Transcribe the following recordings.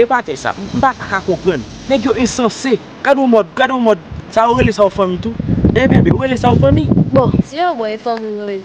E batay sa m pa ta ka konprann. Nèg yo ensanse. Gad yon mòd, gad yon mòd. Sa yo rele sa yon fanmi tou? Hey bebe, ou rele sa yon fanmi? Bon, si yo bo e fanmi ou rele.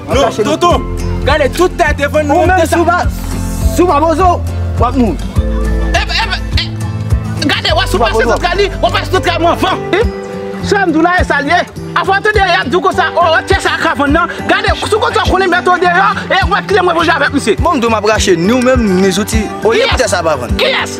Non, tonton, gade tout tè devan nou. Ou menm si w pa, si w pa bozo, w ap mouri. Epa, epa, e, gade wè si w pase tout kay li, w ap pase tout kay mwen anvan. Wi, sa m di w la e sa l ye. Afè w ap tande y ap di w konsa, o, tè sa a ka vann nan. Gade, si w konn sa w konnen mèt ou deyò e w ap kite mwen manje avèk misye. Bon m di w m ap rache ni w menm ni zouti olye pou tè sa a pa vann. Kiyès?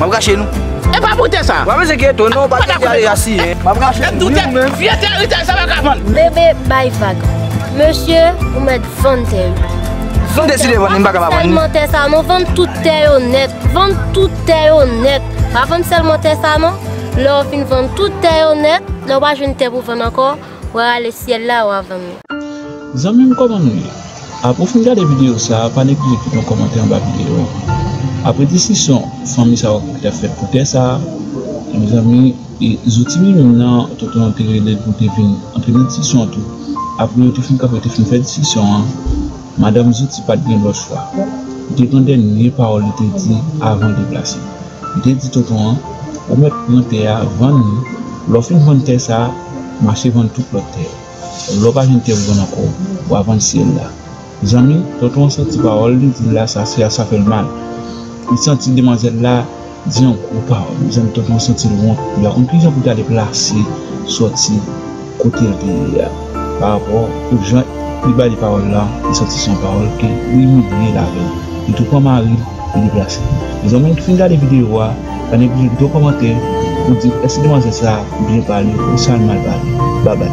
Map rache nou. E pa pou tè sa. Wap ese kye to non pati a deja siye. Map rache nou wi ou menm. Vye tè ritay sa pa ka vann. Bebe bay vag. Mesye ou met vann tè yo. Si m deside vann li m pa ka pa vann li. Pa vann selman tè sa non vann tout tè yo net. Vann tout tè yo net. Pa vann selman tè sa non. Lè ou fin vann tout tè yo net. Lè ou pa jwenn tè pou vann anko. Wa ale syèl la wa vann li. Zanmim kòman nou ye? Apre ou fin gade videyo sa a, pa neglije kite yon kòmantè anba videyo an. Apre diskisyon fanmi sa yo ki t ap fèt pou tè sa a, mezanmi, e zouti li menm nan, tonton an te rele l pou l te vin antre nan diskisyon an tou. Apre yo te fin kanpe, yo te fin fè diskisyon an, Madanm Zouti pa t gen lòt chwa. Li te pran dènye pawòl li te di avan l deplase. Li te di tonton an, Ou mèt pran tè a, vann li. Lè w fin vann tè sa a, mache vann tout lòt tè yo. Lè w pa jwenn tè pou vann ankò, w a vann syèl la. Mezanmi, tonton an santi pawòl li di l la sa fè l mal. Li santi demwazèl la. Di yon gwo pawòl mezanmi tonton santil wont li pa konn kijan poul ta deplase sòti kotel te ye a pa rapò pou jan li bali pawòl la li santi son pawòl ke li imilyel avèl li tou pran maril li deplase mezanmi nou fin gade video a pa neglije kite yon kòmantè pou di èske demwazèl sa byen pale ou sal mal pale babay.